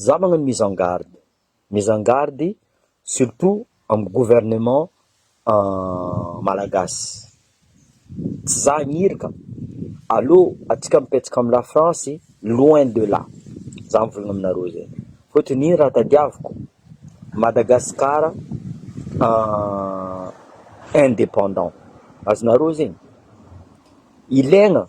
Za magnano mise en garde, mise en garde surtout amin'ny gouvernement malagasy, tsy za hagniry ka, aleo antsika mipetraka am la France loin de là, za mivôlagna aminareo zay, fôtony ino raha tadiaviko, Madagascar indépendant, azonareo zegny, ilaigna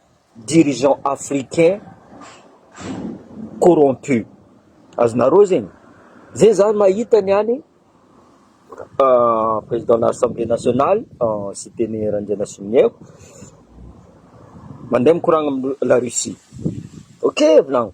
dirigeants africains corrompus, azonareo zegny? Zay zany mahita ny any président na assemblée nationale cité ny Randrianasoloniaiko mandeha mikoragna am la Russie, ok volagno.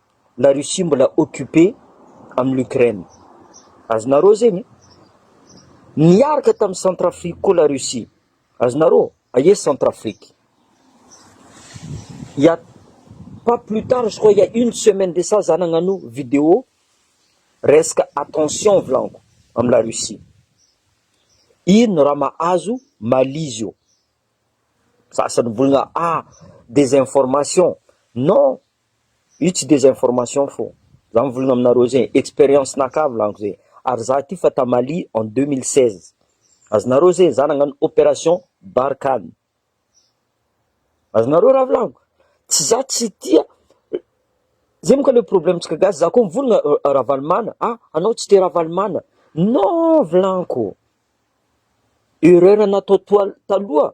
la Russie mbola occupé am l'Ukraine azonareo zegny niaraka tam Centrafrique koa la Russie azonareo aia Centrafrique il ya pas plus tard je crois il ya une semaine de ça za nagnano vidéo resaka attention volaniko am la Russie ino no raha mahazo Mali zio sasany mivolagna ah desinformation non Io tsy desinformation fô za mivolagna aminareo ze experience naka volaniko ze ary za ty fa ta Mali en 2016 azonareo ze za nagnano operation Barkhane azonareo raha volaniko tsy za tsy tia ze monka le problème tsika gasy za ko mivolagna Ravalomana ah anao tsy te Ravalomana non volaniko erreur natao toa taloha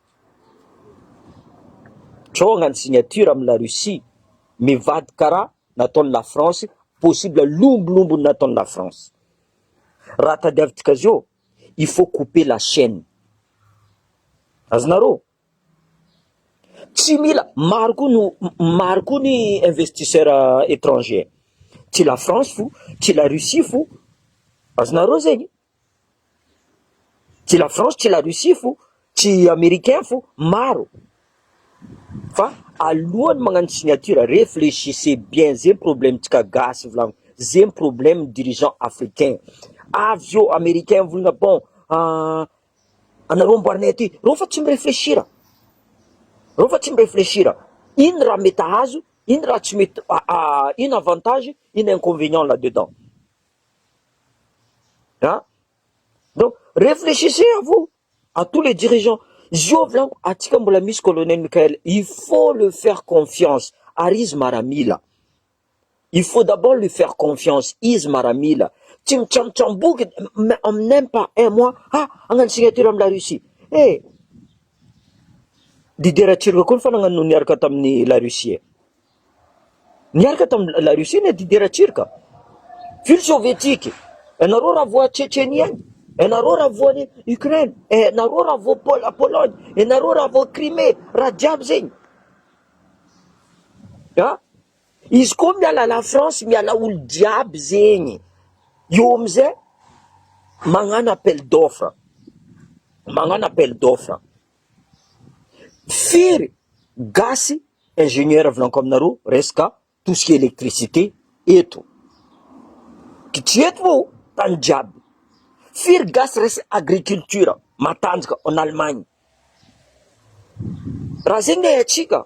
Trôgna ny signature am la Russie mivadika ra nataony la France possible lombolombo nataony la France ra tadiavintika azy eo il faut couper la chaine azonareo tsy mila maro koa no maro koa ny investisseur etranger tsy la France fo tsy la Russie fo azonareo zegny Tsy la France tsy la Russie fo tsy Americain fo maro fa alohan'ny magnano signature reflechissez bien zay problemtsika gasy volagno zay ny problème dirigeants africains avy eo Americain volagna bon anareo amboarinay aty reo fa tsy mi-reflechir reo fa tsy mi-reflechir ino raha mety ahazo ino raha tsy mety ino avantage ino inconvenient là dedans. An? Donc, réfléchissez à vous, à tous les dirigeants. Izy io volako, antsika mbola misy colonel Mickaël, il faut le faire confiance, ary izy maramila. Il faut d'abord lui faire confiance, izy maramila. Tsy mitsamotsamboky, en même pas un mois, ah, hagnano signature am la Russie. Eh, leader Turc koa ny fanagna no niaraka tamin'ny la Russie eh. Niaraka tamin'i La Russie ny Didier Ratsir ka. Ville sovietique. Ianareo raha voa Tchetchenie any, ianareo raha voa any Ukraine, ianareo raha voa Pol- Pologne, ianareo raha voa Crimée, raha jiaby zegny. Ha? Izy koa miala la France, miala olo jiaby zegny. Eo amizay magnano appel d'offre. Magnano appel d'offre. Firy gasy ingénieur avy lanko aminareo resaka tout ce qui est électricité eto? Kitreto moa tany jiaby. Firy gasy resy agriculture matanjaka en Allemagne? Raha zegny ay atsika.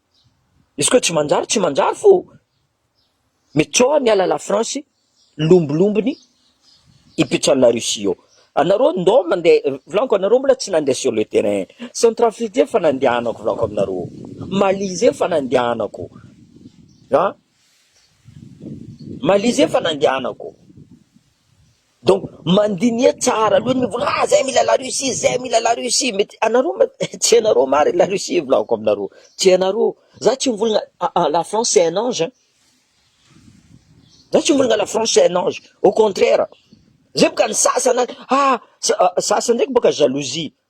Izy koa tsy manjary tsy manjary fô mety tsao aho miala la France lombilombiny hipetraha la Russie ao. Anareo ndao mandeha volaniko anareo mbola tsy nandeha sur le terrain. Centrafrique zay efa nandehanako volaniko aminareo. Mali zay efa nandehanako. An? Mali zay efa nandehanako. Donc mandiniha tsara aloha ny mivola ah zay mila la Russie zay mila la Russie mety anareo ma tsy anareo marigny la Russie volako aminareo tsy anareo za tsy mivolagna ah ah la France c'est un ange hein za tsy mivolagna la France c'est un ange au contraire zay boka ny sasany any ah sa- sasany ndraiky boka jalousie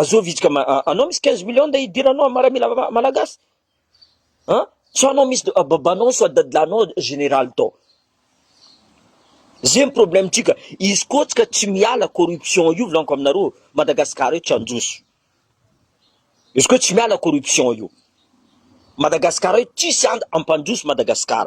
Azoo vitsika ma anao misy quinze millions de hidiranao amin'ny miaramila malagasy an! Sao anao misy babanao sao dadilahinao generaly tao. Zay ny problème tsika, izy koa tsika tsy miala corruption io volaniko aminareo, Madagascar eto tsy handroso. Izy koa tsy miala corruption io, Madagascar eto tsisy and ampandroso Madagascar.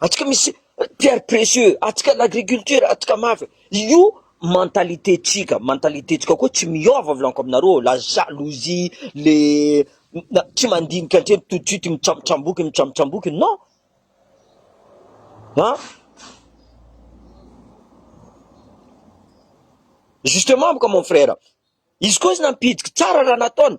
Atsika misy pierre précieux, atsika l'agriculture, atsika mafy. Io mentalité tsika, mentalité tsika koa tsy miôva volaniko aminareo ô, la jalousie, le tsy mandinika antsena tout de suite mitsambotsamboky mitsambotsamboky non an! Justement mon frère, izy koa izy nampihidiky tsara raha nataony,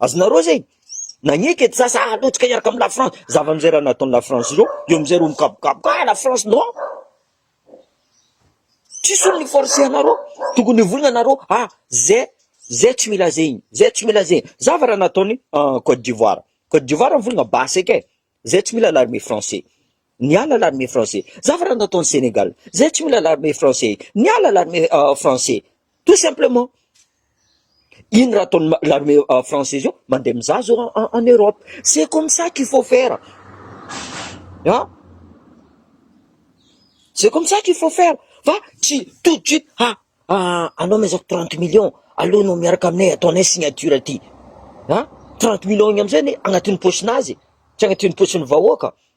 Azonareo zay? Nagneke ty za sa halotsika hiaraka am la France? Zava mizay raha nataon la France zao, eo amizay reo mikabokaboka ah la France non! Tsisy olo ni-forcer anareo, tokony hivolagna nareo ah zay zay tsy mila zegny, zay tsy mila zegny, zava raha nataony Cote d'Ivoire, Cote d'Ivoire mivolagna basy ake, zay tsy mila l'armée français. Niala l'armée français. Za fa raha natao any Sénégal zay tsy mila l'armée français. Niala l'armée français. Tout simplement. Ino raha ataon'ny l'armée française io? Mandeha mizaha zao en Europe. C'est comme ça qu'il faut faire. Hein? C'est comme ça qu'il faut faire. Fa tsy tout de suite ha ah, anao mezako 30 millions alou no miaraka aminay ataonay signature aty. Hein? 30 millions igny amizay ny agnatin'ny poche-nazy, tsy agnatin'ny poche-n'ny vahoaka.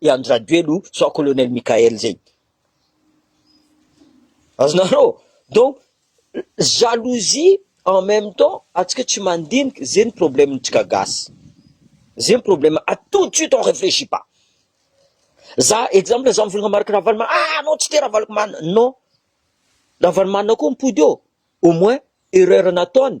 i Andry Rajoelina io sao Colonel Mickaël zay. Azonareo? Donc jalousie en même temps atsika tsy mandinika zay ny problème ntsika gasy. Zay ny problème à tout de suite on réfléchit pas. Za exemple za mivolagna marika Ravaloman ah anao tsy te Ravaloman non Ravaloman koa mipody eo au moins erreur nataony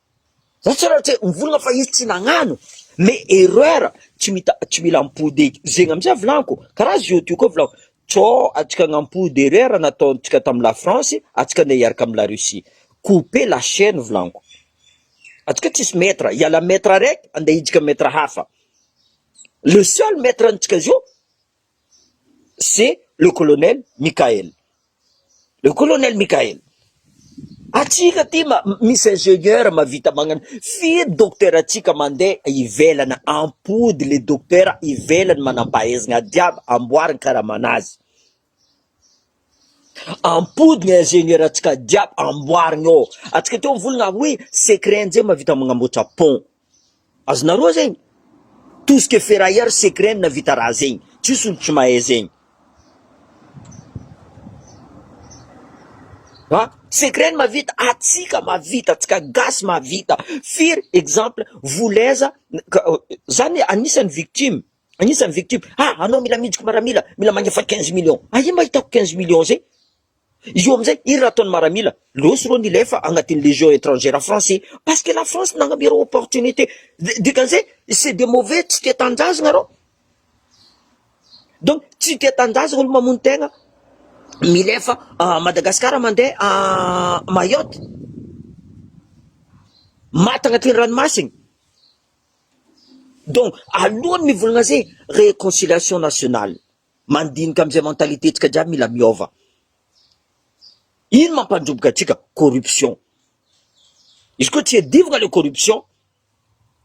Ratsy ianao tsy mivolagna fa izy tsy nagnano mais erreur tsy mita tsy mila ampody eky zegny amizay volagniko kara zio teo koa volako co atsika agnapody erreur nataontsika tamy la France atsika ndeha hiaraka amy la Russie couper la chaine volagniko atsika tsisy maitre iala maitre araiky ande hijika maitre hafa le seul maitre antsika zio c'est le colonel Mickaël, le colonel Mickaël, antsika aty misy ingénieur mahavita magnano firy docteur antsika mandeha ivelany ampody le docteur ivelany manampahaizana ady aby amboariny karamana azy, ampody ny ingénieur antsika jiaby amboariny ao, antsika aty mivolagna hoe secret njay mahavita magnamboatra pont. Azonareo zegny? Tout ce que ferrailleur sait que regny navita raha zegny, tsisy olo tsy mahay zegny. Ha? Sait que regny mavita, atsika mavita, atsika gasy mavita, firy exemple voleza zany anisany victime, anisany victime, ha anao mila mijiko maramila, mila magnefa quinze millions, aia mba hitako quinze millions zay? Izy io amizay iny raha ataony maramila leo sy reo ny lefa agnatiny legion etrangera français parce que la France nagname reo opportunité dikan'izay c'est des mauvais tsy tia tanindrazagna reo donc tsy tia tanindrazagna olo mamono tegna milefa Madagascar mande Mayotte maty agnatiny ranomasigny donc aloany mivolagna zay réconciliation nationale Mandinika amizay mentalité tsika jiaby mila miova. Ino mampandroboka atsika? Corruption. Izy koa tsy adivina le corruption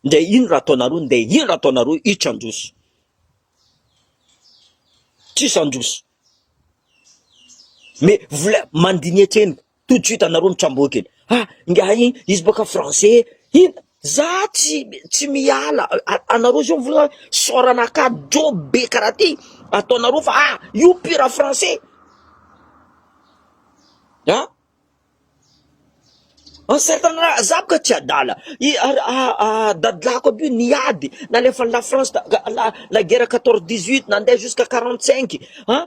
nde ino raha ataonareo nde ino raha ataonareo itsy androso. Tsisy androso. Mais vola mandiniha tsena. tout de suite anareo mitsamboa kely ah ingahy izy bôka français iny za tsy tsy miala anareo zao vola sôrana ka dro be karaha ty ataonareo fa ah io pire français ah en certain raha za bôka tsy adala i dadilahiko aby io niady nalefan'i la france la guerre quatorze dix huit nandeha jusqu'à quarante cinq ah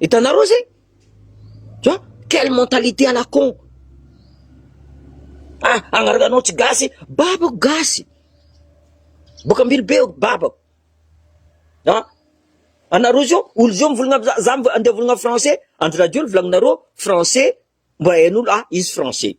Hitanareo zay? Tu vois? Quelle mentalité à la con! Ah, agnareo anao tsy gasy, babako gasy! Boaka Ambilobe aho, babako! Ah, anareo zao, olo zao mivolagna, za, za andeha mivolagna français, andro radio ny volaninareo français, mba hain'olo, ah, izy français.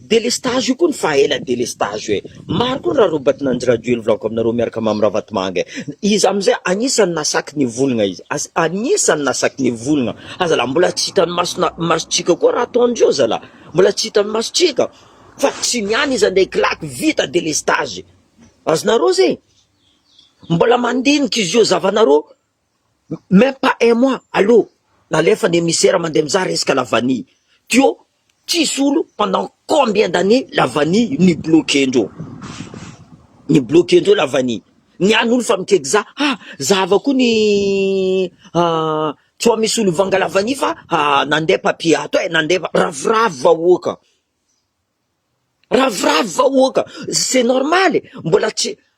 Delestage io koa ny faha ela delestage io e! Maro koa ny rarobaty nanjy radio eny volako aminareo miaraka Mamy Ravatomanga e! Izy amizay anisany nasaky nivolgna izy, as, anisany nasaky nivolgna, ha zalah mbola tsy hitany maso na, masotsika koa raha ataony zao zalah, mbola tsy hitany masotsika, fa tsy ny any izy andray kilaky vita delestage, azonareo zay? Mbola mandinika izy io zavanareo, Même pas un mois allo nalefa ny emisera mandeha mizaha resaka la vanille teo tsisy olo pendant combien d'années la vanille ni bloquer ndreo ni bloquer ndreo la vanille ny any olo fa mikaiky za ha za ava koa ny tsoa misy olo vanga la vanille fa ha nandeha papier ato eh nandeha ravoravo vahoaka ravoravo vahoaka c'est normal eh mbola tsy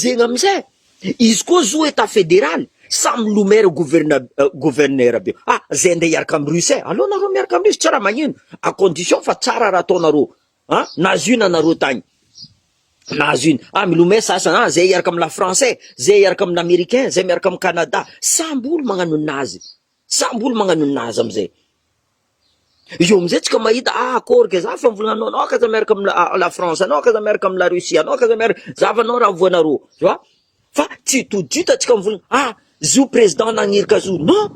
Zegny amizay izy koa zo etat federal samy lo maire gouverne gouverneur be ah zay ndray hiaraka am russe eh aleo nareo miaraka am russe tsy raha magnino a condition fa tsara raha ataonareo ah nahazo ino anareo tagny nahazo ino ah milomay sasany ah zay hiaraka am la france eh zay hiaraka am l'americain zay miaraka am canada samby olo magnano nazy samby olo magnano nazy amizay. Io amizay tsika mahita ah akory kay za fa mbola anao anao akaza miaraka am la France anao akaza miaraka am la Russie anao akaza miaraka za fa anao raha voanaroo tu vois fa tsy tout de suite tsika mivolagna ah zio président nagniry ka zio non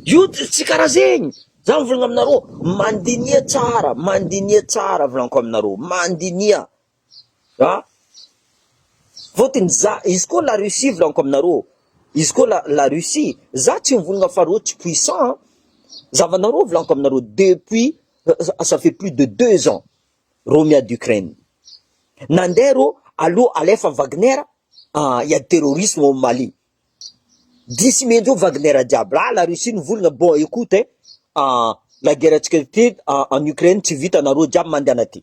io tsy karaha zegny za mivolagna aminareo mandiniha tsara mandiniha tsara volaniko aminareo mandiniha An! Fotony za, izy koa la Russie volaniko aminareo, izy koa la la Russie, za tsy mivonogna fa reo tsy puissant an! Zavanareo volaniko aminareo depuis ça fait plus de deux ans reo miady Ukraine, nande reo aleo alefa Wagner hiady terrorisme ao Mali, dia sy mendreo Wagner jiaby, la la Russie no volagna, bon ecoute hein, la guerre antsika aty en Ukraine tsy vita nareo jiaby mandehana aty.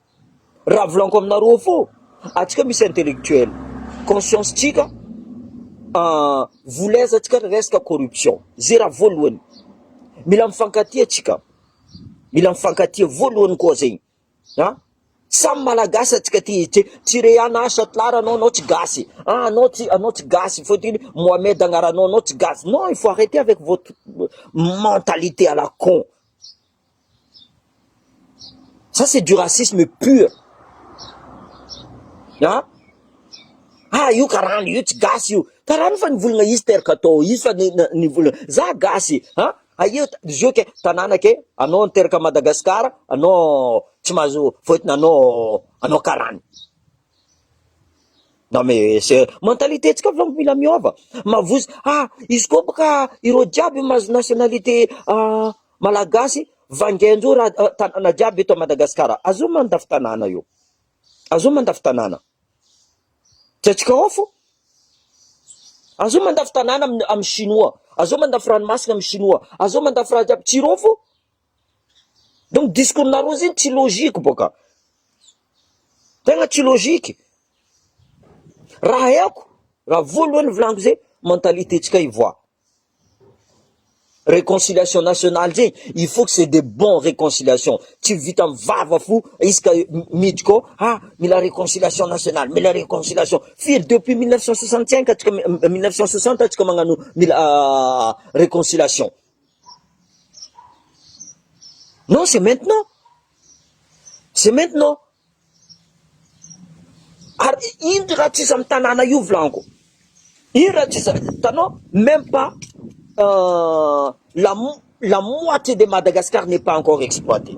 Raha volagniko aminareo avao, antsika misy intellectuel, conscience tsika voulez antsika resaka corruption, ze raha voalohany, mila mifankatia tsika, mila mifankatia voalohany koa zegny an, samy malagasy antsika ty, tsy re an ah Chatlar anao, anao tsy gasy, ah anao tsy, anao tsy gasy, fôtiny Mohamed agnaranao, anao tsy gasy, non il faut arreter avec votre mentalité à la con. Ça c'est du racisme pur an! ah io karana io tsy gasy io, karana io fa nivolagna izy teraka tao izy fa nivolagna, za gasy an! aia izy io ke tanàna ke anao niteraka à Madagascar anao tsy mahazo fôtony anao, anao karana. Non mais c'est mentalité ntsika fô mila miôva, mavozo ah izy koa bôka ireo jiaby mahazo nationalité malagasy vangain-dreo raha tanàna jiaby eto Madagasikara, azony mandafy tanàna eo, azony mandafy tanàna, tsy antsika ao fô, azony mandafy tanàna amin'ny chinois, azony mandafy ranomasina amin'ny chinois, azony mandafy raha jiaby, tsy ireo fô. Donc discours nareo zegny tsy logique boka, tegna tsy logique, raha haiko, raha voalohany volaniko zegny mentalité tsika hivoaha, reconciliation nationale zegny il faut que c'est de bon reconciliation, tsy vita amin'ny vava fo isaka miditra ao ah mila reconciliation nationale, mila reconciliation, firy depuis mille neuf cent soixante cinq atsika mille neuf cent soixante atsika magnano mila reconciliation. Non c'est maintenant, c'est maintenant, ary ino raha tsy iza am tanàna io volango, ino raha tsy iza, hitanao même pas la moitié de Madagascar n'est pas encore exploitée.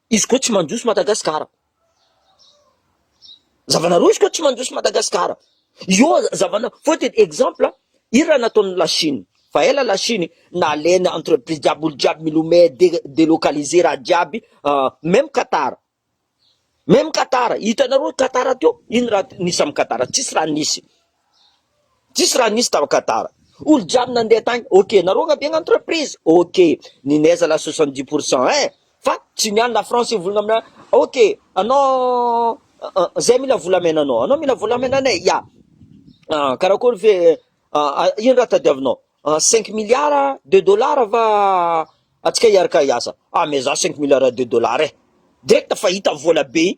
Izy koa tsy mandroso Madagascar. Zavana roa izy koa tsy mandroso Madagascar. Io zavana faute de exemple ira nataon'ny la Chine. Fa ela la Chine nalainy entreprise jiaby olo jiaby milomay delocaliser raha jiaby même Qatar. Même Qatar hitanareo Qatar teo ino raha nisy am Qatar tsisy raha nisy. Tsisy raha nisy tao Qatar. Olo jiaby nandeha tany ok. Naroagna be ny entreprise ok. Ny neige la soixante dix pour cent eh. Fa tsy ny any la France io volagna amina ok. Anao zay mila volamena anao. Anao mila volamena anay ya. Karakory ve ino raha tadiavinao. Cinq milliards de dollars va atsika hiaraka hiasa. Ah mais za cinq milliards de dollars eh. Direct fa hita vola be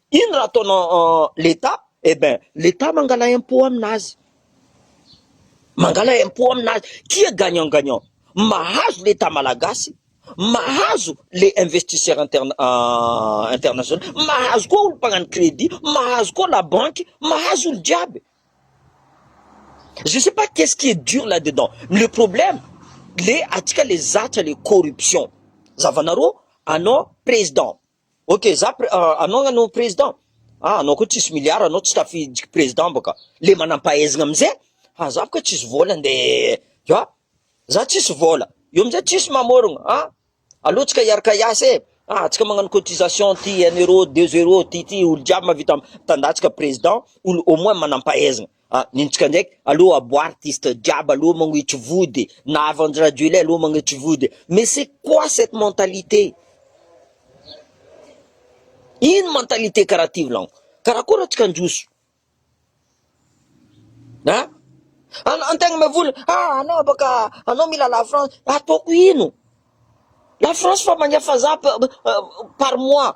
Ino raha ataona l'etat? Eh ben l'etat mangala impot aminazy, mangala impot aminazy, qui est gagnant gagnant? Mahazo l'etat malagasy, mahazo le investisseur international, mahazo koa olo mpagnano credit, mahazo koa la banque, mahazo olo jiaby. Je ne sais pas qu'est-ce qui est dur là dedans, le problème le atsika le zatra le corruption, zavanareo anao président Ok za pre anao nga no president ah anao koa tsisy milliard anao tsy tafiditry president boka le manampahaizagna amze ah za boka tsisy vola nde ah za tsisy vola eo amizay tsisy mamorogno ah aleo tsika hiaraka hiasa e ah tsika magnano cotisation ty un euro deux euro ty ty olo jiaby mahavita mitandatsaka president olo au moins manampahaizagna. Ah nintsika ndraiky alou abo artiste jiaby alou magnitry vody na avy andry rajoelina alou magnitry vody mais c'est quoi cette mentalité ino mentalité karaha ty vlaniko karaha koa raha tsy kandroso ah ana antegna me vola ah anao abaka anao mila la france ataoko ino la france fa magna faza par mois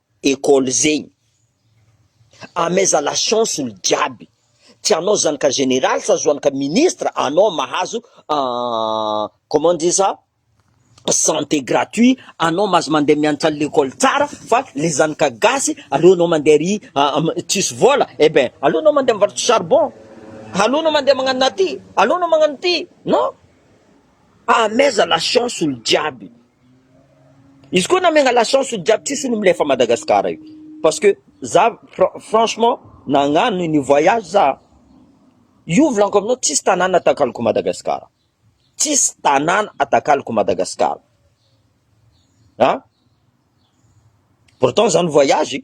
Ecole zegny. Ameza la chance olo jiaby. Tsy anao zanaka général sa zoanaka ministre anao mahazo comment dit ça santé gratuit anao mahazo mandeha miantsal lekole tsara fa le zanaka gasy aleo anao mandeha ary tsisy vola eh ben aleo anao mandeha mivarotra charbon aleo anao mandeha magnano naty aleo anao magnano ty non ameza la chance olo jiaby. Izy koa namegna la chance olo jiaby tsisy olo milefa Madagascar io parce que za franchement nagnano an'io voyage za io volanko aminao tsisy tanàna atakaloko Madagascar tsisy tanàna atakaloko Madagascar an pourtant za nivoyage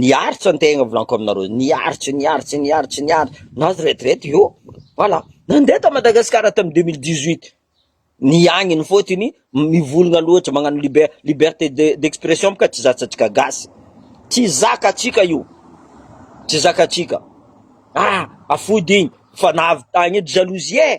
Niaritra ny tegna volanko aminareo, niaritra, niaritra, niaritra, niaritra, nahazo retraite io, voilà, nandeha tao Madagasikara tamin'ny deux mille dix huit, ny agniny fôtony mivolagna loatra, magnano liber- liberté de d'expression bôka tsy zakantsika gasy, tsy zakatsika io, tsy zakatsika, ah! afody igny, fa nahavitagna edy jalousie eh!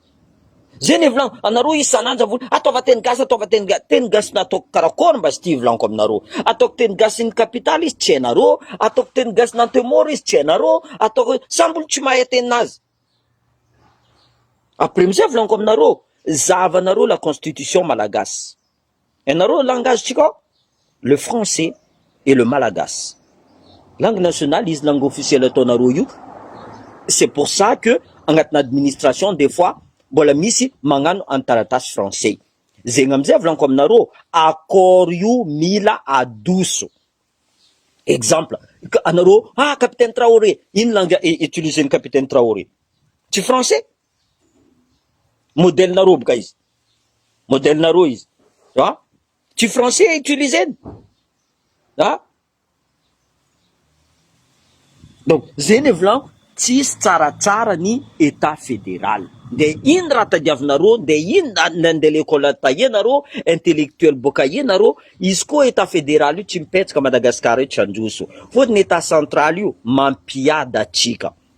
Zay ne volagno anareo isan'andro zavony ataova teny gasy ataova teny gasy teny gasy nataoko karakory mba sty volaniko aminareo ataoko teny gasy ny capital izy tsy hainareo ataoko teny gasy ny antemoro izy tsy hainareo ataoko samby olo tsy mahay tenin'azy après amizay volaniko aminareo zahavanareo la constitution malagasy Ianareo langage tsika ao le français et le malagasy langue nationale izy langue officielle ataonareo io c'est pour ça que agnatina administration des fois mbola misy magnano any taratasy français zegny amizay volaniko aminareo accord io mila adoso exemple anareo ah capitaine traoré ino langue utilisen'ny capitaine traoré tsy français Modèle-na roa boka izy. Modèle-na roa izy. Ha? Tsy français utilisé-ny. Ha? Donc, zay ny volanko, tsisy tsaratsara ny Etat fédéral. Nde ino raha tadiavinareo, nde ino na nde lekôly taia nareo, intellectuel boka aia nareo, izy koa Etat fédéral io tsy mipetsoka Madagascar eto tsy handroso. Fôtony Etat central io mampiadatsika.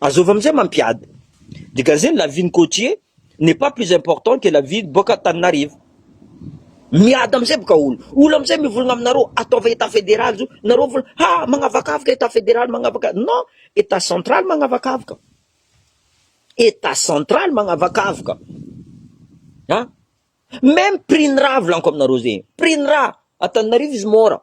Azovy amizay mampiady. Dégagez ny la vie ny côtier n'est pas plus important que la vie boka Antananarivo. Miady amizay boka olo. Olo amizay mivolagna aminareo ataova état fédéral zo, nareo vol ha magnavakavaka état fédéral magnavaka non état central magnavakavaka. État central magnavakavaka. Ha? Même prix ny raha volaniko aminareo zegny. Prix ny raha Antananarivo izy môra.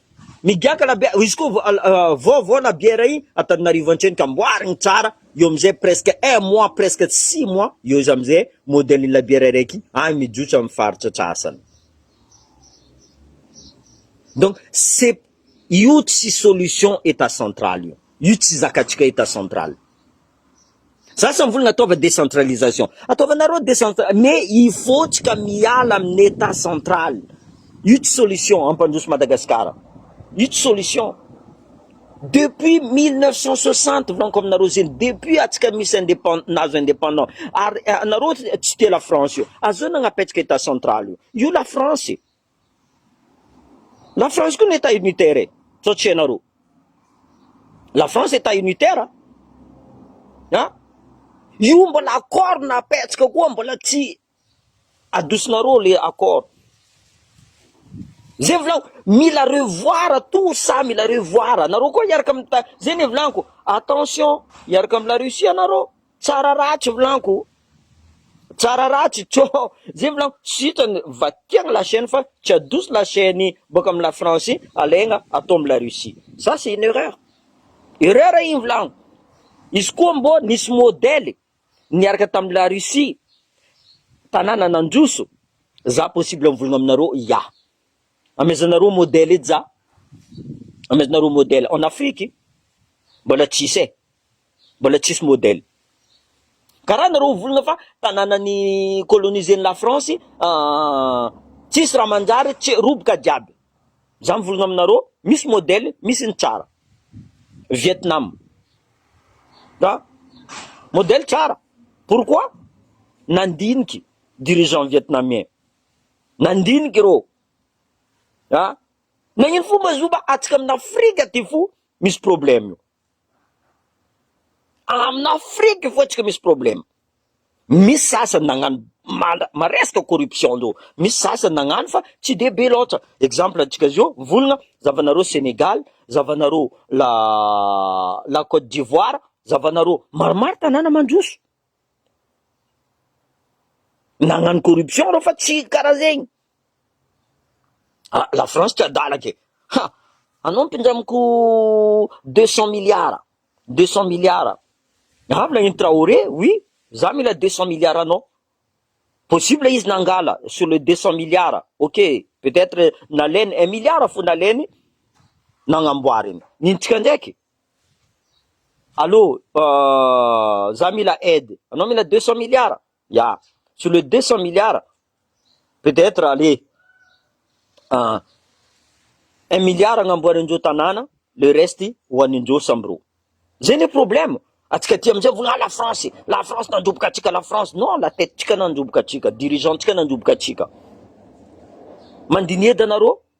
Migiaka labiera, izy koa vao vao labiera iny Antananarivo antreny ka amboariny tsara, eo amizay presque un mois presque six mois eo izy amizay modèle ny labiera araiky iny any mijotso aminy faritra antsasany. Donc c'est io tsy solution état central io, io tsy zakatsika état central. Zasa mivolagna ataova décentralisation. Ataovanareo décentra mais hivotsika miala amin'ny état central. Io tsy solution hampandroso Madagascar. Io tsy solution. Depuis 1960 volaniko aminareo zegny, depuis atsika misy indépend nahazo indépendant. Ary anareo tsy tia la France io. Azonao napetraka état central io. Io la France. La France koa ny Etat unitaire e! sao tsy hainareo. La France Etat unitaire an! an! io mbola accord napetsaka koa mbola tsy adosonareo le accord. Zay volako, mila revoir tout ça, mila revoir, nareo koa hiaraka am ta, zay ny volako, attention hiaraka am la Russie nareo. Tsara ratsy vlanko tsara ratsy co zay vlanko sitrany va tiagny la chaine fa tsy adoso la chaine boka am la France alaigna atao am la Russie ça c'est une erreur erreur igny vlanko izy koa mbô nisy modèle niaraka tam la Russie tanàna nandroso za possible mivolagna aminareo ya amezanareo modèle edy za amezanareo modèle en Afrique mbola tsisy e. Mbola tsisy modèle karaha nareo ho volana fa tanàna ni coloniser ny la France an tsisy raha manjary tsy roboka jiaby za mivolagna aminareo misy modèle misy ny tsara Vietnam an modèle tsara pourquoi nandiniky dirigeant vietnamien nandiniky ireo an nagnino fo mazoba atsika amina Afrika ty fo misy problème io Amina Afrique foa tsika misy problème, misy sasany nagnano manda maresaka corruption zao, misy sasany nagnano fa tsy de be loatra, exemple antsika zao mivolagna zavanareo Sénégal, zavanareo la la Côte d'Ivoire, zavanareo maromaro tanàna mandroso, Nagnano corruption reo fa tsy karaha zegny. Ah, la France tsy adala ke. Ha, anao mpindray amiko deux cent milliards, deux cent milliards. Avy nagnino Traoré, oui, za mila deux cent milliards anao. Possible izy nangala sur le deux cent milliards, ok, peut-etre nalainy un milliard fo nalainy nagnamboariny. Nintsika ndraiky. Allo, za mila aide, anao mila deux cent milliards? Ya, sur le deux cent milliards, peut etre ale un milliard agnamboarin-dreo tanàna, le reste ho anin-dreo sambo reo. Zay ne problème, antsika aty amizay mivolagna ah la France, la France nandroboka antsika, la France, non, la tête-tsika nandroboka antsika, dirigeants-tsika nandroboka antsika. Mandinieda anareo?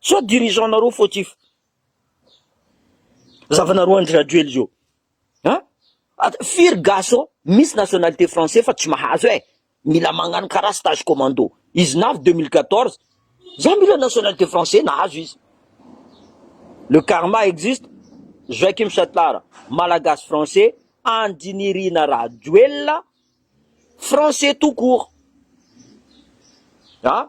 Sao dirigeant nareo fautif. Zavanareo Andry Rajoely zao. An? At firy gasy ao misy nationalité français fa tsy mahazo eh. Mila magnano karaha stage commando. Izy navy 2014. Za mila nationalité français nahazo izy. Le karma existe. Joachim Chatlar, Malagasy français, Andry Nirina Rajoelina français tout court. An?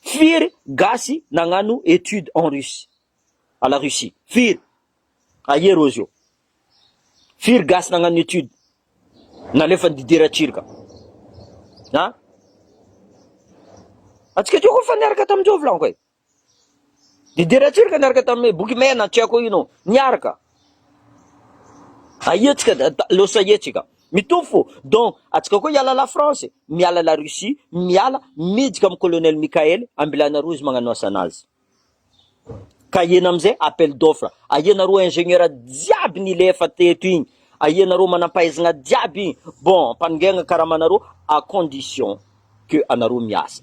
Firy gasy nagnano étude en Russie, à la Russie? Firy? Aia reo zeo? Firy gasy nagnano étude nalefany Didier Ratsirika? An? Atsika teo koa fa niaraka tamin Joe volagno kay. Didier Ratsirika niaraka tamin Bokimena, tsy aiko ino, niaraka. Aia tsika los aia tsika mitovy fo donc atsika koa hiala la France e miala la Russie miala mijika am colonel Mickael ambilana roa izy magnano asanazy ka hiena amizay appel d'offre aia nareo ingenieur jiaby nilefa teto igny aia nareo manampahaizana jiaby igny bon ampanongena karamanareo à condition que anareo miasa.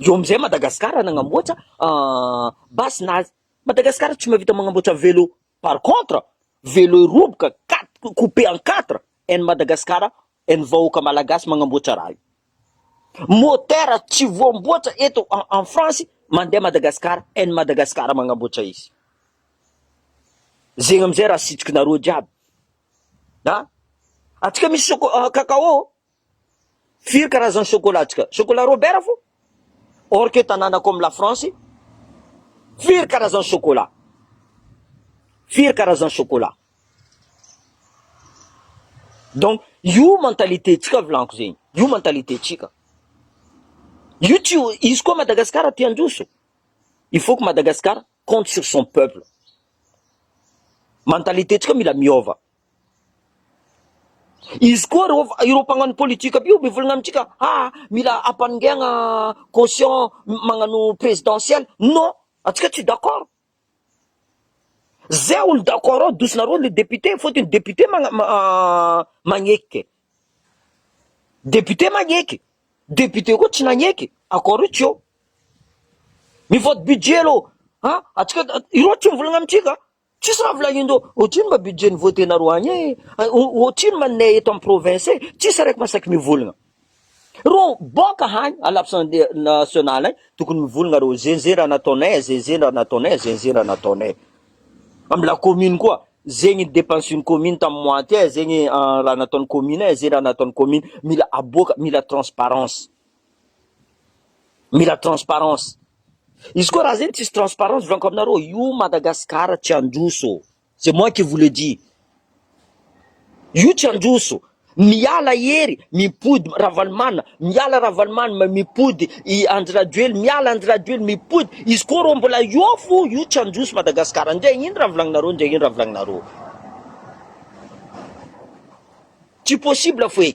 Eo amin'izay Madagasikara nagnamboatra base nazy. Madagasikara tsy mahavita magnamboatra vélo. Par contre, vélo roboka quatre coupé en quatre any Madagasikara any vahoaka Malagasy magnamboatra raha io. Moteur tsy voamboatra eto en France mandeha Madagasikara any Madagasikara magnamboatra izy. Zegny amin'izay raha sitsiky nareo jiaby. Atsika misy choco- cacao. Firy karazany chocolat tsika? Chocolat Robert fo? Or que tananako am la France firy karazany chocolat? Firy karazany chocolat? Donc io mentalité tsika vilanko zegny, io mentalité tsika. Io tsy izy koa Madagascar te handroso. Il faut que Madagascar compte sur son peuple. Mentalité tsika mila miova. Izy koa ireo ireo mpagnano politique aby io mivolagna amintsika ha mila ampanongehagna caution magnano presidentielle non antsika tsy d'accord zay olo d'accord ao dosinareo le député fotony député magna- ma- magneky ke député magneky député koa tsy nagneky accord io tsy eo mivote budget aloha an antsika ireo tsy mivolagna amintsika. Tsisy raha volagnindreo otrino mba budget ny vote nareo agny e otrino ma ney eto am province e tsisy araiky masaky mivolagna reo boka hagny à l'absende national agny tokony mivolagna reo ze ze raha nataonay e ze ze raha nataonay e ze ze raha nataonay am la commune koa zegny depense ny commune tam mois ty e zegny raha nataony commune e ze raha nataony commune mila aboaka mila transparence Mila transparence. Izy koa raha zegny tsisy transparence volanko aminareo io Madagascar tsy handroso. C'est moi qui vous le dis. Io tsy handroso. Miala Hery, mipody Ravalomanana, miala Ravalomanana, mipody i Andry Rajoely, miala Andry Rajoely, mipody. Izy koa reo mbola eo fo, io tsy handroso Madagascar. Ndre ino raha volagninareo, ndre ino raha volagninareo. Tsy possible fo e.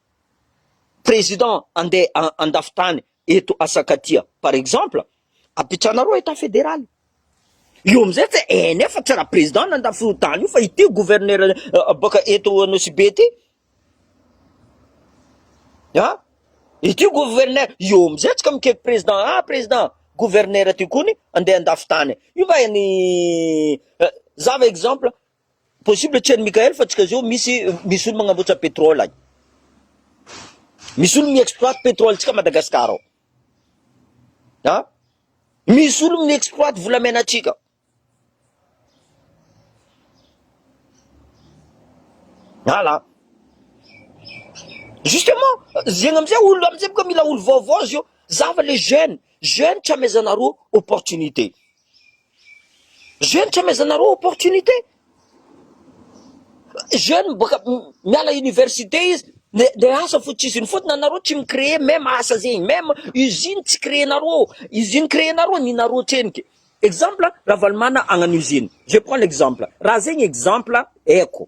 Président andeha andafy tany eto asakatia par exemple apitranareo etat fédéral io amizay tsy eh nefa tsy raha président nandafy io tany io fa ity gouverneur baka eto anosibe ty ah ity gouverneur io amizay tsy ka mikeky président ah président gouverneur ty kony andeha andafy tany io va ny za va exemple Possible tsy any Mickael fa tsika zao misy misy olo magnamboatra petrole agny. Misy olo mi exploite petrole tsika Madagascar ao. Ha? Misy olo mi exploite volamena tsika. Ala. Justement, zegny amizay olo amizay boka mila olo vaovao zio. Zava le jeune, jeune tsy amezanareo opportunité. Jeune tsy amezanareo opportunité? Jeune boaka miala université izy de asa fo tsy izy iny fotona nareo tsy mi cree meme asa zegny meme usine tsy cree nareo usine cree nareo ny nareo tsenike exemple ravalomana agnano usine je prend l'exemple raha zegny exemple aiko.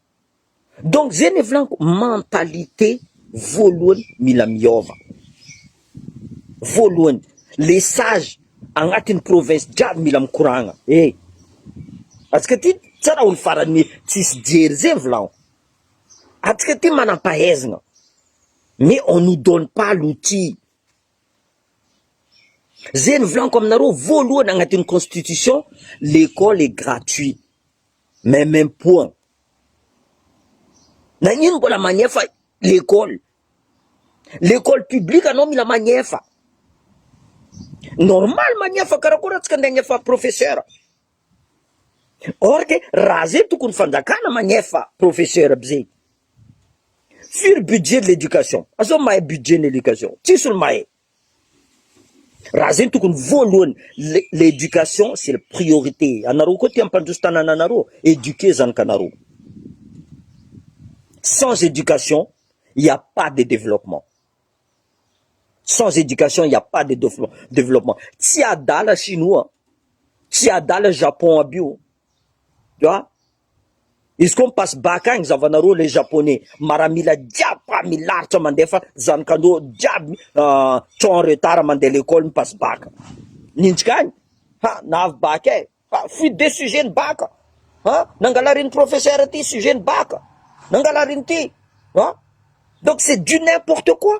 Donc zay le volaniko mentalité voalohany mila miova voalohany le sage agnatiny province jiaby mila mikoragna e atsika ty sa raha olo farany tsisy jery zay volagno atsika ty manampahaizagna mais on nous donne pas l'outil zay no volaniko aminareo voalohany agnatiny constitution l'ecole est gratuit. Maimaipoana. Nagnino mbola magnefa l'école? L'école publique anao mila magnefa. Normal magnefa karakory antsika ndeha agnefa professeur. Or que raha zay tokony fanjakana magnefa professeur aby zay. Firy budget de l'éducation? Azao mahay budget ny éducation? Tsisy olo mahay. Raha zay tokony voalohany le l'éducation c'est le priorité anareo koa ty ampandroso tanana anareo éduquer zanaky anareo sans éducation il ya pas de développement sans éducation il ya pas de développement tsy adala chinois tsy adala japon aby io tu vois. Izy koa mi-passe bac agny zavanareo le japonais maramila jiaby fa milaritra mandefa zanakandreo jiaby trop en retard mandeha lekôly mi-passe bac ninjika agny ha na avy bac e fa fuite de sujet ny bac ha nangalarin'ny professeur ty sujet ny bac nangalarin'ity ha donc c'est du n'importe quoi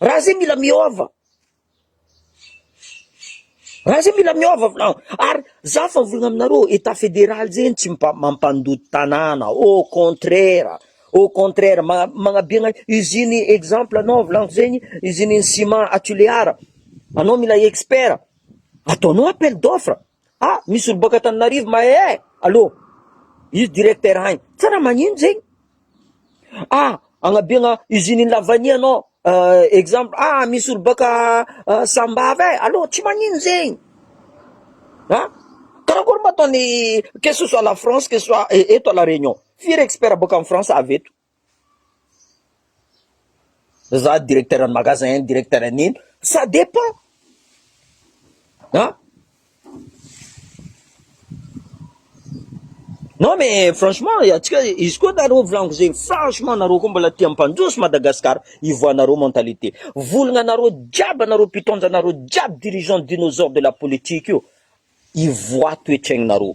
Raha zay mila miova, raha zay mila miova vinao ary za fa volagna aminareo etat federal zegny tsy mpa- mampandoto tanàna au contraire, au contraire ma- magnabiagna usine exemple anao volagniko zegny usine ciment à Tulear, anao mila expert ataonao appel d'offre. Ah misy olo boaka Antananarivo mahay eh allo izy directeur agny tsara magnino zegny ah agnabiagna usine iny lavanie anao uh, exemple ah misy olo boaka uh, sambava eh allo tsy magnino zegny ah karakory mba ataony que ce soit la France que ce soit eh, eto à la Réunion firy expert boaka en France avy eto Za directeur ny magasin iny directeur an'iny ça dépend an! Non mais franchement antsika izy koa nareo volaniko zay franchement nareo koa mbola tia mpandroso Madagascar ivoahanareo mentalité volagna anareo jiaby anareo mpitondra anareo jiaby dirigeant dinosaure de la politique io ivoaha toetraignareo.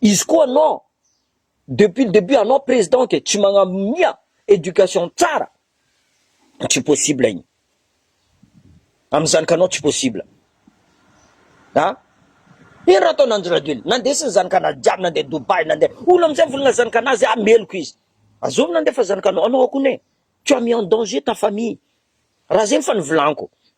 Izy koa non, depuis le debut anao président ke tsy magnamia éducation tsara, tsy possible igny, amy zanakanao tsy possible a! Ino raha ataon' Andry Rajoelina? Nandesy ny zanakanazy jiaby nandeha Dubaï nandeha, hono amizay volana zanakanazy ah meloka izy, azovy nandefa zanakanao, anao koa ne, tu as mis en danger ta famille, raha zegny fa nivolaniko,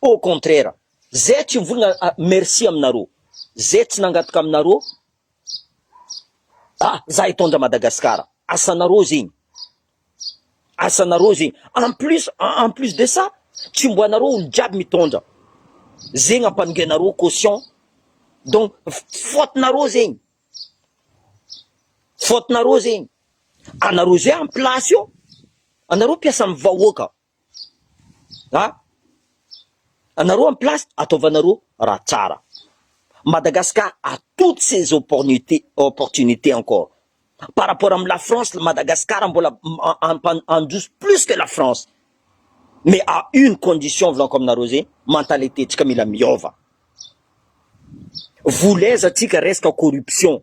Au contraire zay tsy mivolagna a merci aminareo zay tsy nangataka aminareo a za hitondra Madagascar asanareo zegny asanareo zegny en plus en plus de ça tsy mbo anareo olo jiaby mitondra zegny ampanongenareo caution donc faute nareo zegny faute nareo zegny anareo zay en place eo anareo mpiasa am vahoaka An! Anareo en place ataovanareo raha tsara. Madagascar a toutes ces oppornute opportunités encore. Par rapport am la France, Madagascar mbola handroso plus que la France. Mais à une condition volako aminareo zay, mentaliténtsika mila miova. Vola aiza tsika resaka corruption.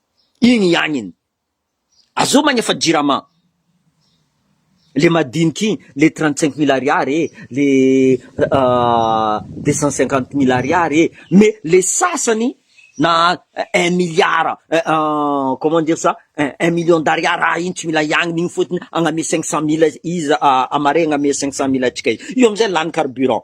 Igny ihagny iny. Azoo magnefa jirama le madiniky igny, le trente cinq mille ariary e, le deux cent cinquante mille ariary e, mais le sasany na un milliard comment dire ça un million d'ariary ah igny tsy mila hiagnona igny fotony agname cinq cent mille izy a Marais agname cinq cent mille antsika io amizay lany carburant.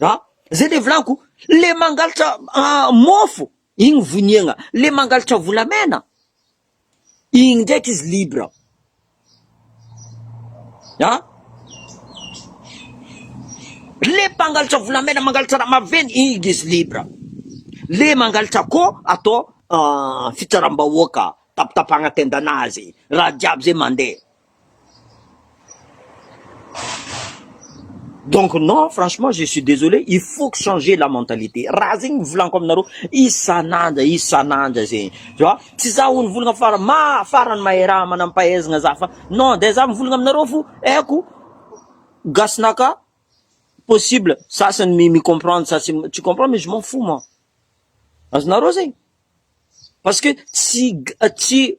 A, zay le volako, le mangalatra mofo iny voniagna, le mangalatra volamena iny ndraiky izy libre a, le mpangalatra volamena mangalatra raha maventy iny izy libre, le mangalatra ko atao fitsaram-bahoaka tapitapahana tendanazy raha jiaby zay mandeha. Donc non franchement je suis désolé il faut que changer la mentalité raha zegny volaniko aminareo isan'andra isan'andra zegny tu vois tsy za hono volagna fara ma farany mahay raha manam-pahaizagna za fa non de za mivolagna aminareo fo haiko gasinaka possible sasany mi mi-comprendre sasany tsy comprendre mais je m'en fous moi azonareo zegny parce que tsy tsy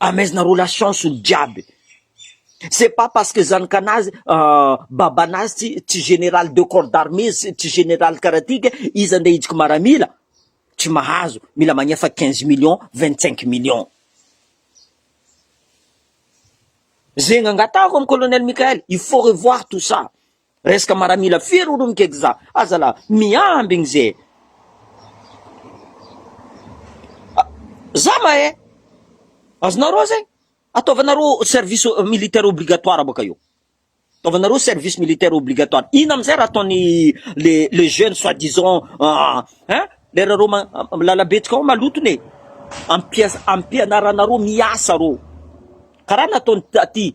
Amezina relations ny jiaby c'est pas parce que zanakanazy babanazy tsy tsy général de corps d'armée sy tsy général karaha ty ka izy ande hitsiky maramila tsy mahazo mila magnefa quinze millions vingt cinq millions zegny angatahako am colonel Mickaël il faut revoir tout ça Reska maramila firy olo mikekza aza la miambigny ze za mahe azonareo zegny ataovanareo service militaire obligatoire baka io ataovanareo service militaire obligatoire ino amizay raha ataony le le jeune soit disant ah, hein lera reo milalabetsaka ao maloto ne ampiasa ampianaranareo miasa reo karaha nataony taty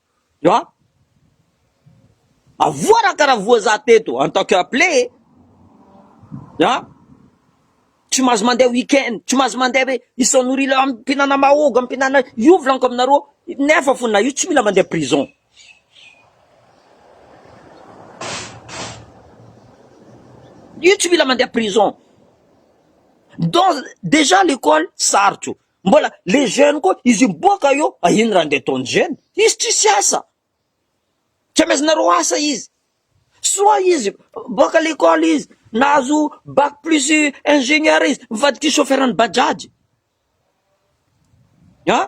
An! Avoa ra karaha voa za teto en tant que appelé e! An! Tsy mahazo mandeha week-end, tsy mahazo mandeha hoe izao nourila mpinana mahogo, mpinana io volaniko aminareo nefa fo na io tsy mila mandeha prison. Io tsy mila mandeha prison. Donc déjà l'école sarotro. Mbola les jeunes koa izy miboaka eo fa iny raha andeha ataon'ny jeunes? Izy tsisy asa, tsy amezanareo asa izy, soit izy boaka lekôly izy nahazo bac plus ingénieur izy mivadiky chauffeur an'i bajaj an!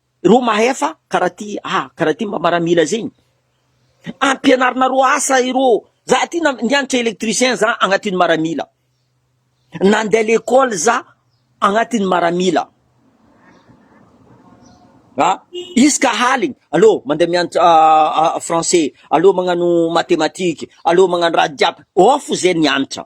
Ireo mahefa karaha ty ah, karaha ty mba maramila zay ny. Ampianarinareo asa ireo, za ty na nianatra electricien za agnatin'ny maramila, nandeha lekôly za agnatin'ny maramila, a isaka haligny aleo mandeha mianatra français, aleo magnano mathématique, aleo magnano raha jiaby, ao fo zay nianatra.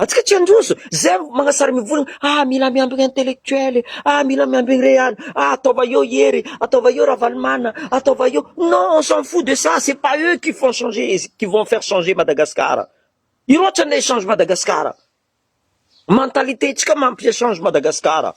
Antsika tsy handroso, zay magnasary mivory, ah mila miandry ny intellectuel e, ah mila miandry ny real, ah ataova eo Hery, ataova eo Ravalomanana, ataova eo, non on s'en fout de ça, c'est pas eux qui font changer, qui vont faire changer Madagascar, io loatra no echange Madagascar, mentalité ntsika mampi echange Madagascar a,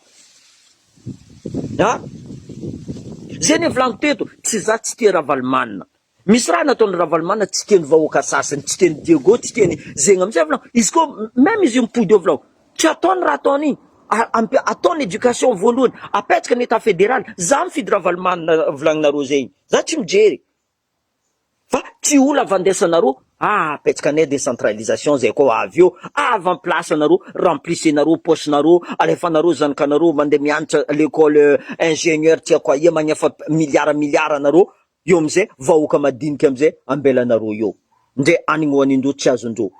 zay anie volagno teto, tsy za tsy tia Ravalomanana, Misy raha nataony Ravalomana tsy tiany vahoaka sasany, tsy tiany Diego, tsy tiany zegna mitsy avy lao, izy ko meme izy io mipody eo avy lao, tsy ataony raha ataony igny, a ataony education voalohany, apetsaka ny etat federal, za mifidy Ravalomana volagninareo zegny, za tsy mijery fa tsy olo avandesanareo, ah apetsaka ny decentralisation zay ko avy eo avant place anareo remplissenareo poche nareo, alefanareo zanakanareo mande mianatra lecole ingenieur tsy aiko aia magnefa milliard milliard anareo Io amzay vahoaka madinika amzay ambelanareo eo ndre any ngo any ndro tsy azondro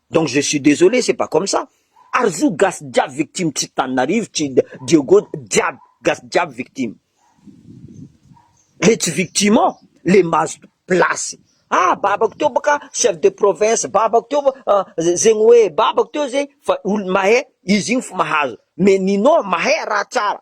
donc je suis desolé c'est pas comme ça ary zo gasy jiaby victime tsy taninarivo tsy diego jiaby gasy jiaby victime le tsy victime ao le mahazo place ah babako teo baka chef de province babako teo ah zegny hoe babako teo zegny fa olo mahay izy igny fo mahazo mais nino mahay raha tsara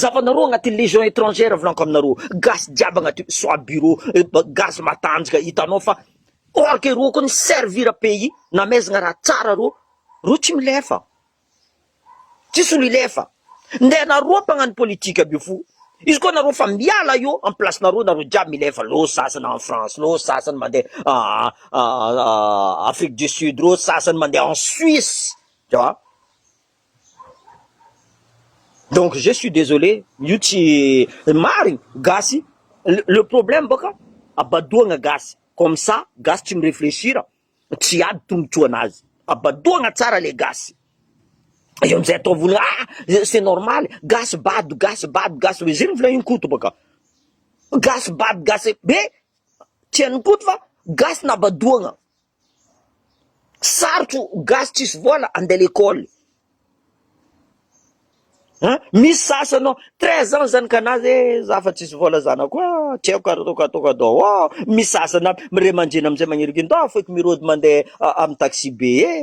Zavanareo agnaty legion etrangère volanko aminareo gasy jiaby agnaty soit bureau gasy matanjaka hitanao fa orque ireo koa ni servir pays namezagna raha tsara reo reo tsy milefa tsisy olo hilefa nde nareo mpagnano politique aby io fo izy koa nareo fa miala eo am place nareo nareo jiaby milefa leo sasany en France leo sasany mande afrique du sud reo sasany mande en suisse ewa. Donc je suis désolé io tsy marigny gasy le problème bôka abadoagna gasy comme ça gasy tsy mi-réfléchir tsy ady tombotsoa anazy abadoagna tsara le gasy eo amizay atao vola ah c'est normal gasy bado gasy bado gasy bado zay volagn'i Koto bôka gasy bado gasy be tsy hain'i Koto fa gasy nabadoagna. Sarotro gasy tsisy vola andeha lekole an! Misy sasany ao treize ans zany ka nazy ee za fa tsisy vola zanako a! tsy haiko ary ataoko ataoko adao ôo! Misy sasany ary ray aman-dreny amizay magniringiry ndao afoiko mirôdy mandeha amin'ny taxi be ee!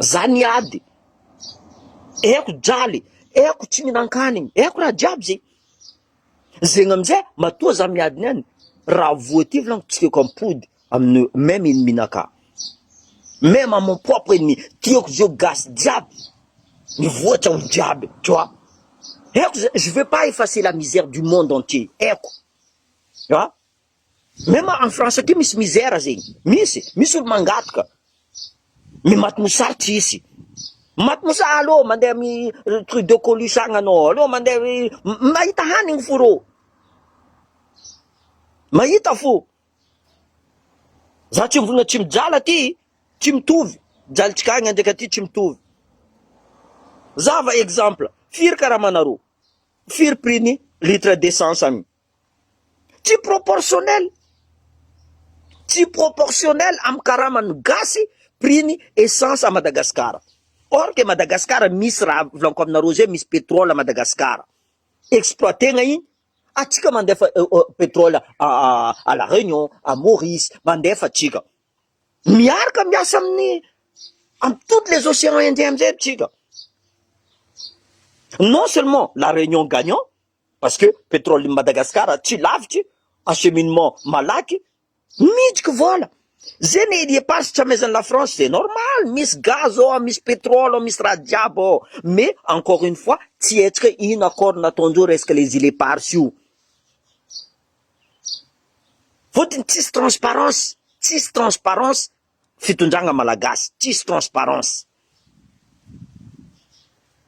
Zany ady. Eko jaly, eko tsy mihinan-kanigny, eko raha jiaby zegny. Zegny amizay matoa za miady niany, raha voa ty volagniko tsy tiako ampody amin'ny même ennemi-nakà. Même à mon propre ennemi, tiako zao gasy jiaby mivoatra olo jiaby, tu vois. Eko zay, je veux pas effacer la misère du monde entier, eko, an. Même en France aty misy misère zegny, misy, misy olo mangataka, mais maty mosary tsisy, maty mosary aleo mandeha ami Trudeau Colus agny anao, aleo mandeha am mahita hanigny fo rô, mahita fo, za tsy mivona tsy mijala aty, tsy mitovy, jalintsika agny ndraiky aty tsy mitovy, za va exemple, firy karama narô, firy prix ny litre d'essence agny. Tsy proportionnel, tsy proportionnel amin'ny karaman'ny gasy prix ny essence à Madagascar. Or que Madagascar misy raha volaniko aminareo zay, misy pétrole à Madagascar exploiter-na iny, antsika mandefa pétrole à la Réunion, à Maurice, mandefa antsika, miaraka miasa amin'ny amin'ny toutes les océans indiens amizay tsika, non seulement la Réunion gagnant, Parce que petrole Madagascar tsy lavitry, acheminement malaky, miditry vola. Ze ne il eparse tsy amezany la France ze normal, misy gaz ao, misy petrole ao, misy raha jiaby ao, mais encore une fois tsy hetsika ino accord nataondreo resaka les il eparse io. Fotony tsisy transparence, tsisy transparence fitondragna malagasy, tsisy transparence,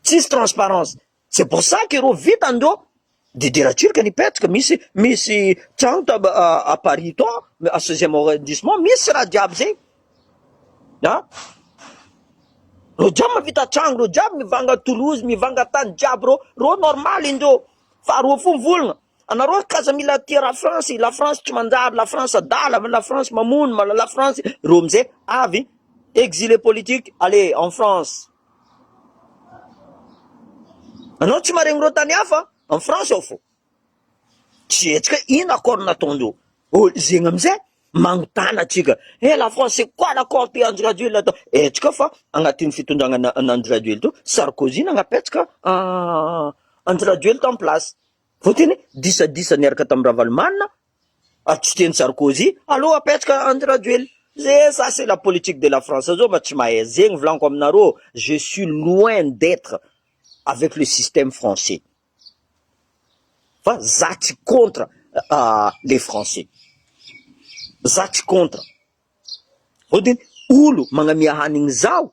tsisy transparence. C'est pour ça que ro vita ndro de dera turc nipetraka misy misy trano ta à Paris to à seizième arrondissement misy raha jiaby zay a ro jiaby mavita trano ro jiaby mivanga Toulouse mivanga tany jiaby ro ro normal indro fa ro fo volgna Anareo aky aza mila tia ra France, la France tsy manjary, la France adala, la France mamono, ma la France reo amzay avy exilé politique allez en France. Anao tsy maregny reo tany hafa en France ao fô tsy hetsika hoe ino accord nataondreo ô zegny amzay magnotana atsika eh la France c'est quoi l'accord te Andry Rajoelina atao hetsika fa agnatin'ny fitondragna an'Andry Rajoelina to Sarkozy nagnapetsaka Andry Rajoelina tamy place Voatery disadisa niaraka tamin'i Ravalomanana ary tsy tian'i Sarkozy alou apetraka Andry Rajoelina. Ze ça c'est la politique de la France zao ma tsy mahay ze ny volaniko aminareo je suis loin d'etre avec le système français fa za tsy contre les français za tsy contre. Voatery olo magnamia hanigny zaho.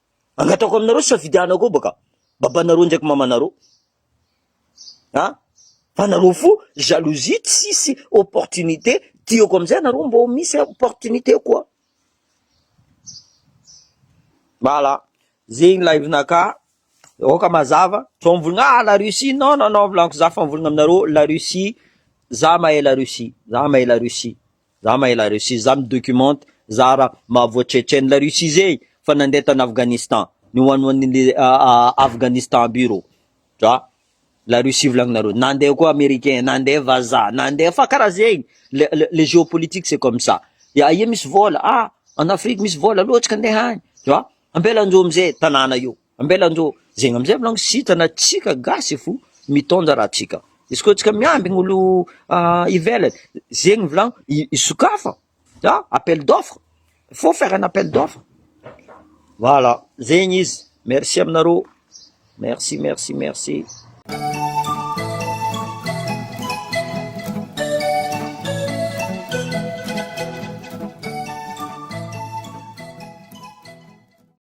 Angatahiko aminareo safidiana koa baka babanareo ndraiky mamanareo a fa nareo fo jalousie tsisy opportunité tiako amizay anareo mbô misy opportunité koa voilà zegny live naka oka mazava fa mivolagna ah la Russie non non non volaniko za fa mivolagna aminareo la Russie za mahay la Russie za mahay la Russie Za mahay la Russie, za mi documente, za ra mahavoa Tchetchène, la Russie zey fa nandeha tany Afghanistan, ny ho an'ny an'ny le Afghanistan aby rô, dra la Russie volagninareo, nandeha koa Americain, nandeha vazaha, nandeha fa karaha zegny, le le le geopolitique c'est comme ça, de aia misy vôla, ah an Afrique misy vôla loatra ka ndeha any, dra ampelan'jo amzey tanàna io. Ambela ndro zegny amizay malônga tsy hita na tsika gasy fo mitônja raha tsika, izy koa tsika miambigny olo ivelany zegny volagno isokafa an appel d'offre, il faut faire un appel d'offre voilà zegny izy, merci aminareo merci merci merci.